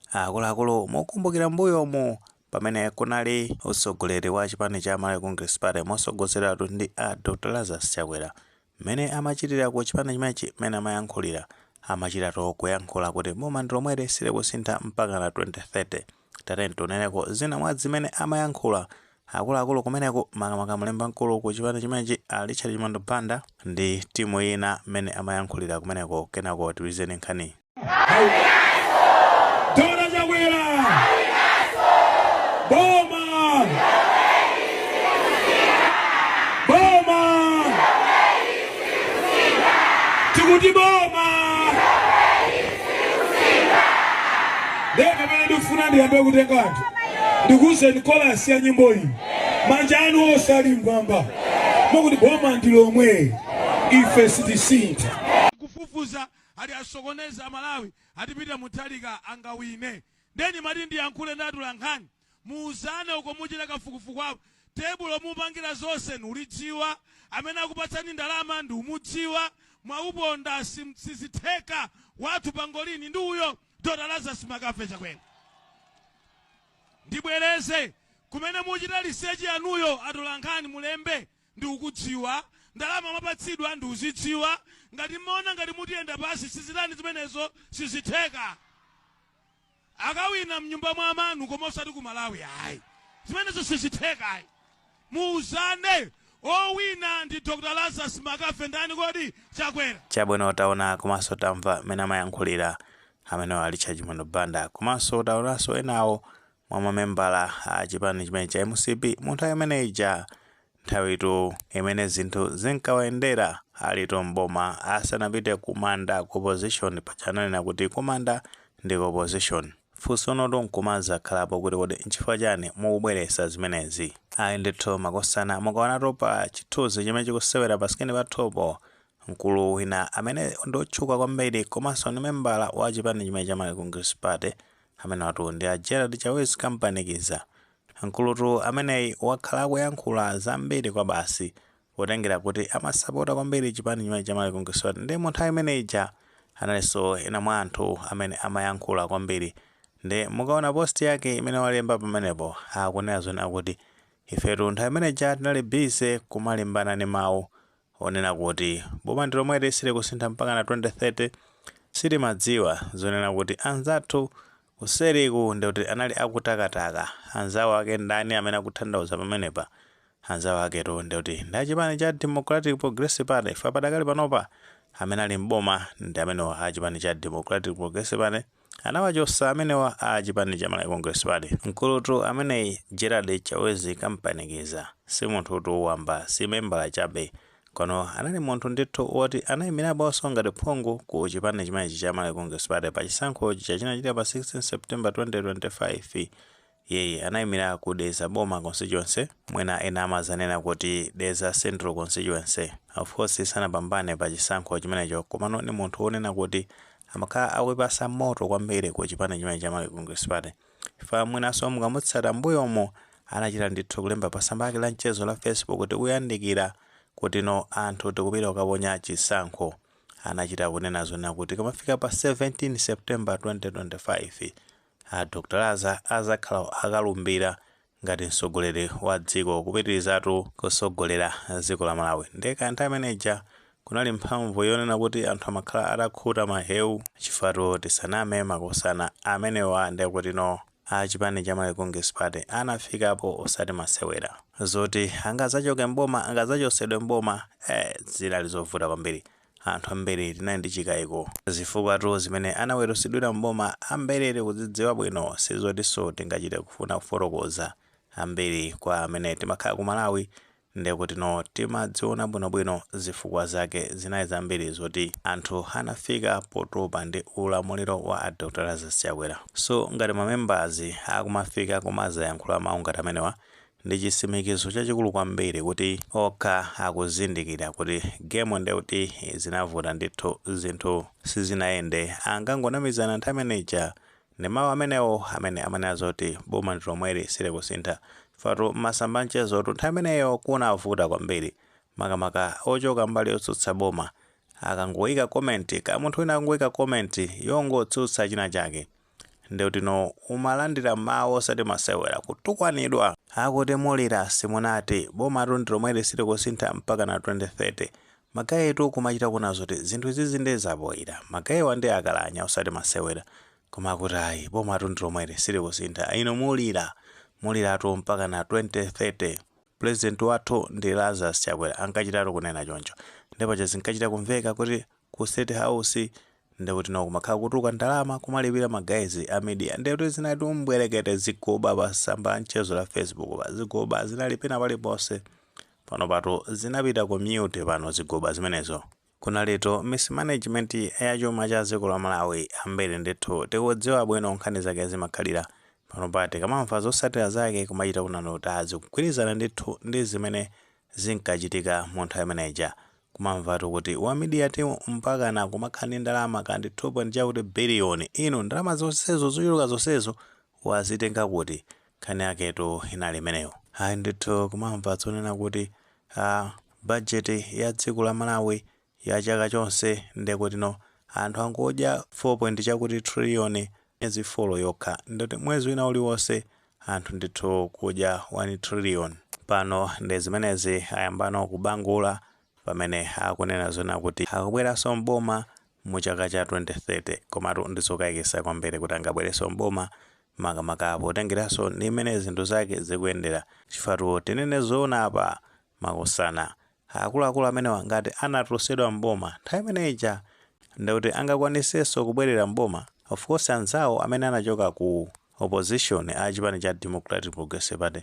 Akuluakulu mukukumbukira mmbuyomu pamene kunali utsogoleri wa chipani cha Malawi Congress Party motsogozeratu ndi a Dr Lazarus Chakwera mmene amachitira ku chipani chimenechi mmene amayankhulira amachitatu kuyankhula kuti boma ndi lomweli silikusintha mpakana 2030 tateni tionereko zina mwa zimene amayankhula Akuluakulu kumeneku makamaka mlembi mkulu ku chipani chimenechi a Richard Chimwendo Banda ndi timu ina mmene amayankhulira kumeneko kenako tiuzeni nkhani. Dr Chakwera boma boma tikuti boma ndiye pamene ndikufuna ndiyambe kutenga anthu ndikuuzeni korasi ya nyimbo iyi manja anu onse ali mmwamba mukuti boma ndi lomwe ife sitisintha kufufuza ali asokoneza amalawi atipita mutalika angawine ndani mati ndiyankhule ndi atolankhani muuzane uko muchita kafukufuku apo tebulo mupangira zonse ndikulidziwa amene akupatsani ndalama ndikumudziwa mwauponda sizitheka wathu pangolin ndi uyo dr lazarus McCarthy chakwera ndibwereze kumene muchita lisechi yanuyo atolankhani mulembe ndikukudziwa ndalama mwapatsidwa ndikuzidziwa ngati mmaona ngati mutiyenda pasi sizichitani zimenezo sizitheka Akawina mnyumba mwa amanu koma osati ku Malawi ayi. Zimenezo sizitheka ayi. Muuzane owina ndi Dr Lazarus McCarthy ndani kodi? Chakwera. Chabwino taona komanso tamva mmene amayankhulira amenewo a Richard Chimwendo Banda komanso taonanso enawo mwa mamembala a chipani chimene cha mcp mu nthawi imene ija Nthawitu imene zinthu zinkawayendera alitu m'boma asanapite kumanda ku opposition paja ananena kuti kumanda ndi ku opposition. Funsonotu nkumazakhalapo kuti kodi nchifukwa chani mukubweresa zimenezi? Ayi ndithu makosana mukaonatu pa chithunzi chimene chikusewera pa screen pathupo mkulu wina amene ndi otchuka kwambiri komanso ndi membala wa chipani chimene cha Malawi Congress Party amenewatu ndi a Gerald Chawezi Kampanikiza. Mkulutu ameneyi wakhala akuyankhula zambiri kwabasi potengera kuti amasapota kwambiri chipani chimene cha Malawi Congress Party nde mu nthawi imene ija analinso ena mwa anthu amene amayankhula kwambiri nde mukaona post yake imene walemba pamenepo akunena zonena kuti ifetu nthawi imene ija tinali busy kumalimbana ndi mawu onena kuti boma ndi lomweli silikusintha mpakana 2030, sitimadziwa zonena kuti anzathu kuseriku nde kuti anali akutakataka, anzawo ake ndani amene akutanthauza pamenepa? Anzawo aketu nde kuti ndi achipani cha Democratic Progressive Party chifukwa padakali panopa amene ali m'boma ndi amenewa a chipani cha Democratic Progressive Party. Anawachosa amenewa a chipani cha Malawi Congress Party. Mkulutu ameneyu Gerald Chawezi Kampanikiza si munthutu wamba si membala chabe kono anali munthu ndithu woti anayimiraponso ngati phungu ku chipani chimenechi cha Malawi Congress Party pa chisankho chija chinachitika pa 16 September 2025 Iyeyu anaimira ku Dedza Boma Constituency, mwina ena amadzanena kuti Dedza Central Constituency. Of course sanapambane pa chisankho chimenecho komano ndi munthu wonena kuti amakhala akuyipatsa moto kwambiri ku chipani chimenechi cha Malawi Congress Party chifukwa mwinanso mukamutsata m'mbuyomu anachita ndithu kulemba pa tsamba lake la mchezo la Facebook tikuyandikira kutino anthu tikupita kukaponya chisankho. Anachita kunena zonena kuti tikamafika pa 17 September 2025 A Dr Laza azakhala akalumbira ngati mtsogoleri wa dziko kupitirizatu kusogolera dziko la Malawi. Ndiye kaya nthawi imene ija kunali mphamvu yonena kuti anthu amakhala atakhuta mahewu? Chifukwa-tu tisaname makosana amenewa ndekutino a chipani cha Malawi Congress Party anafikapo osati masewera. Zoti angazachoke m'boma, angazachosedwe m'boma, ee zinali zovuta kwambiri. Anthu ambiri tinali ndi chikaiko zifukwatu zimene anaweruzidwira m'boma ambiri tikudzidziwa bwino sizotinso tingachite kufuna kufotokoza. Ambiri kwa amene timakhala ku Malawi ndekutino timadziona bwinobwino zifukwa zake zinali zambiri zoti anthu anafika potopa ndi ulamuliro wa a Dr Lazarus Chakwera. So ngati ma members akumafika kumazayankhula mau ngati amenewa Ndi chitsimikizo chachikulu kwambiri kuti okha akuzindikira kuti game nde kuti zinavuta ndithu zinthu sizinayende ankangonamizana nthawi imeneija ndi mawu amenewo amene amanena zoti boma ndi lomweli silikusintha chifukwa-tu mmasamba anchezo-tu nthawi imeneyo kunavuta kwambiri makamaka ochoka mbali yotsutsa boma akangoika comment kaya munthu wina akangoika comment yongotsutsa china chake ndekutino umalandira mawu osati masewera kutukwanidwa akuti mulira simunati bomatu ndilomweli silikusintha mpakana 2030 magayitu kumachita kuona zoti zinthu izizi nde zapoyira magayiwa nde akalanya osati masewera koma akuti ayi bomatu ndilomweli silikusintha inu mulira muliratu mpakana 2030 pulezidenti wathu ndi Lazarus Chakwera ankachitatu kunena choncho nde paja zinkachita kumveka kuti ku state house ndekuti no kumakhala kutuluka ndalama kumalipira ma guys a media ndekuti zinati umbwerekete zigoba pa samba la mchezo la facebook pa zigoba zinali pena paliponse pano paja zinapita ku mute pano zigoba zimenezo kunalitu mismanagement ya chuma cha dziko la malawi ambiri ndithu tikudziwa bwino nkhani zake zimakhalira pano pa tikamamva zosatira zake kumachita kuona zoti zikugwirizana ndithu ndi zimene zinkachitika mu nthawi imeneja Kumamvatu kuti wa media team mpakana kumakhala ndi ndalama kaya ndi 2 point chakuti billion. Inu ndalama zonsezo zochuluka zonsezo wazitenga kuti? Nkhani yaketu inali imeneyo. Ayi ndithu kumamva zonena kuti aah budget ya dziko la Malawi ya chaka chonse nde kuti no anthu angodya 4 point chakuti trillion myezi folo yokha. Nde kuti mwezi wina uliwonse anthu ndithu kudya 1 trillion pano ndi zimenezi ayambano kubangula pamene akunena zonena kuti akubweraso m'boma mu chaka cha 2030 komatu ndizokaikisa kwambiri kuti angabwereso m'boma makamaka potengeraso ndi mmene zinthu zake zikuyendera chifukwa tinene zoona apa makosana Akuluakulu amenewa ngati anatulusidwa m'boma nthawi imene ija nde kuti angakwanisenso kubwerera m'boma? Of course anzawo amene anachoka ku opposition a chipani cha Democratic Progressive Party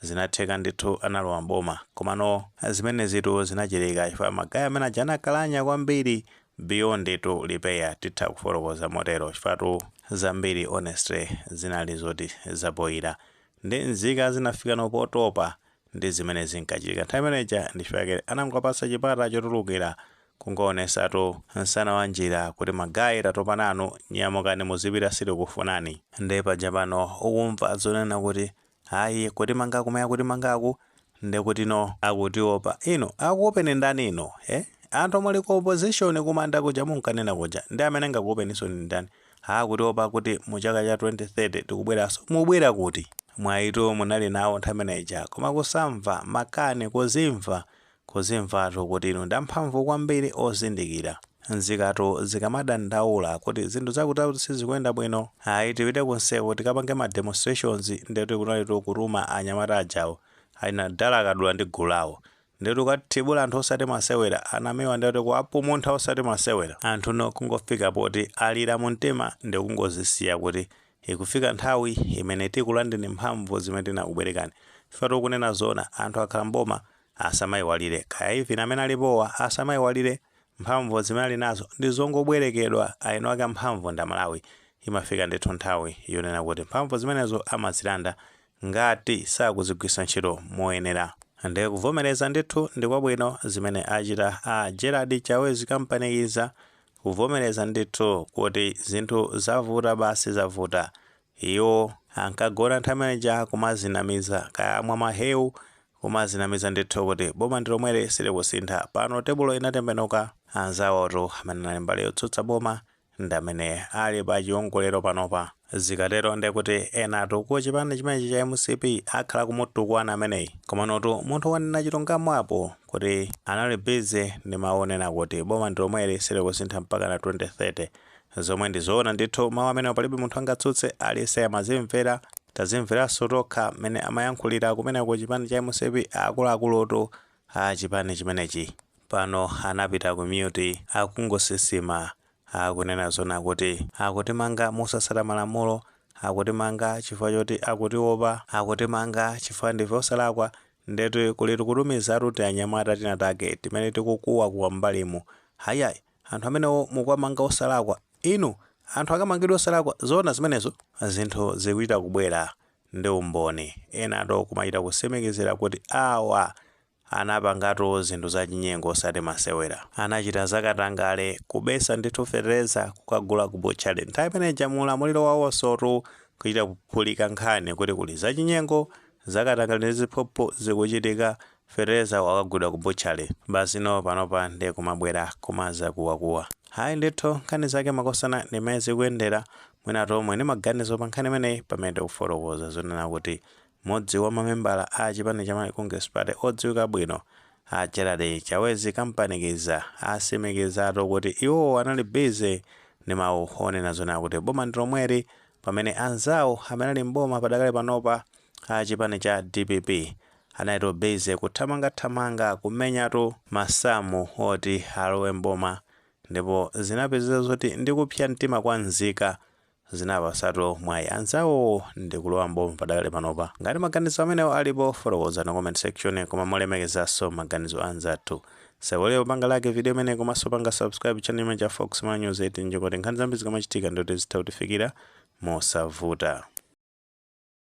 zinatheka ndithu analowa m'boma komano zimenezitu zinachitika chifukwa ma guy amene aja anakalanya kwambiri beyond tu repair titha kufotokoza motero chifukwa tu zambiri honestly zinali zoti zapoyira nde nzika zinafikano potopa ndi zimene zinkachitika nthawi imene ija ndi chifukwa chake anangowapatsa chipata chotulukira kungoonesatu nsana wa njira kuti ma guy tatopa nanu nyamukani muzipita sitikufunani. Nde paja pano ukumva zonena kuti ayi kutimanga kumene akutimangaku ndekutino akutiopa. Inu akuopeni ndani inu? Eh? Anthu omwe muli ku opposition kumanda kuja munkanena kuja ndi amene angakuopeninso ndi ndani? Akutiopa kuti mu chaka cha 2030 tikubweraso mubwera kuti? Mwayitu munali nawo nthawi imene ija koma kusamva, makani, kuzimva, kuzimvatu kuti inu ndi amphamvu kwambiri ozindikira. Nzikatu zikamadandaula kuti zinthu zakuti zakuti sizikuyenda bwino ayi tipite ku nsewuko tikapange ma demonstrations nde kuti kunalitu kutuma anyamata ajawo. Ayina Dala Kadula ndi gulu lawo. Ndetu kathibula anthu osati masewera anamewa ndetu kuwapumuntha osati masewera anthu no kungofika poti alira mumtima ndikungozisiya kuti ikufika nthawi imene tikulandeni mphamvu zimene tinakubwerekani chifukwa tikunena zoona anthu akhala m'boma asamaiwalire kaya even amene alipowa asamaiwalire mphamvu zimene alinazo ndizongobwerekedwa aeniwake amphamvu ndi aMalawi imafika ndithu nthawi yonena kuti mphamvu zimenezo amazilanda ngati sakuzigwiritsa ntchito moyenera nde kuvomereza ndithu ndikwabwino zimene achita a Gerald Chawezi Kampanikiza kuvomereza ndithu kuti zinthu zavuta basi zavuta iwo ankagona nthawi imeneja kumazinamiza kaya amwa mahewu kumazinamiza ndithu kuti boma ndilomweli silikusintha pano tebulo inatembenuka anzawotu amene anali mbali yotsutsa boma ndi amene ali pa chiongolero panopa. Zikatero nde kuti enatu ku chipani chimenechi cha mcp akhala akumutukwana ameneyi. Komanotu munthu wanena chilungamo apo kuti anali busy ndi mau onena kuti boma ndi lomweli silikusintha mpakana 2030. Zomwe ndi zoona ndithu mau amenewa palibe munthu angatsutse aliyense amazimvera. Tazimveranso tokha mmene amayankhulira kumeneku ku chipani cha mcp akuluakulutu A chipani chimenechi pano anapita ku mute akungosisima akunena zoona kuti akutimanga mosasata malamulo akutimanga chifukwa choti akutiopa akutimanga chifukwa ndife osalakwa ndeti kulitu kutumizatu tianyamata tinatake timene tikukuwakuwa m'mbalimu hayayi anthu amenewo mukuwamanga osalakwa inu anthu akamangidwe osalakwa zoona zimenezo zinthu zikuchita kubwera ndi umboni. Enatu kumachita kutsemekezera kuti awa anapangatu zinthu zachinyengo osati masewera. Anachita zakatangale, kubetsa ndithu fetereza kukagula ku butchery. Nthawi imene ija mu ulamuliro wawonsotu kuchita kuphulika nkhani kuti kuli zachinyengo, zakatangale ndi ziphuphu zikuchitika Fetereza wakagulidwa ku butchery basi noo panopa nde kumabwera kumazakuwakuwa hayi ndithu nkhani zake makosana ndi mmene zikuyendera mwina tomwe ndi maganizo pa nkhani imeneyi pamene tikufotokoza zonena kuti mmodzi wa mamembala a chipani cha Malawi Congress Party odziwika bwino a Gerald Chavez Kampanikiza atsimikizatu kuti iwowo anali busy ndi mawu onena zonena kuti boma ndi lomweli pamene anzawo amene ali m'boma padakali panopa a chipani cha dpp analitu busy kuthamangathamanga kumenyatu masamu oti alowe m'boma ndipo zinapezeka zoti ndi kupsa mtima kwa nzika zinawapasatu mwayi anzawowo ndi kulowa m'boma padakali panopa. Ngati maganizo amenewo alipo, fotokozani ku comment section koma molemekezanso maganizo a anzathu. Osaiwala kupanga like video imeneyi komanso kupanga subscribe channel chimenechi cha Fox Malawi News 8 n'cholinga choti nkhani zambiri zikamachitika ndi kuti zitha kukufikirani mosavuta.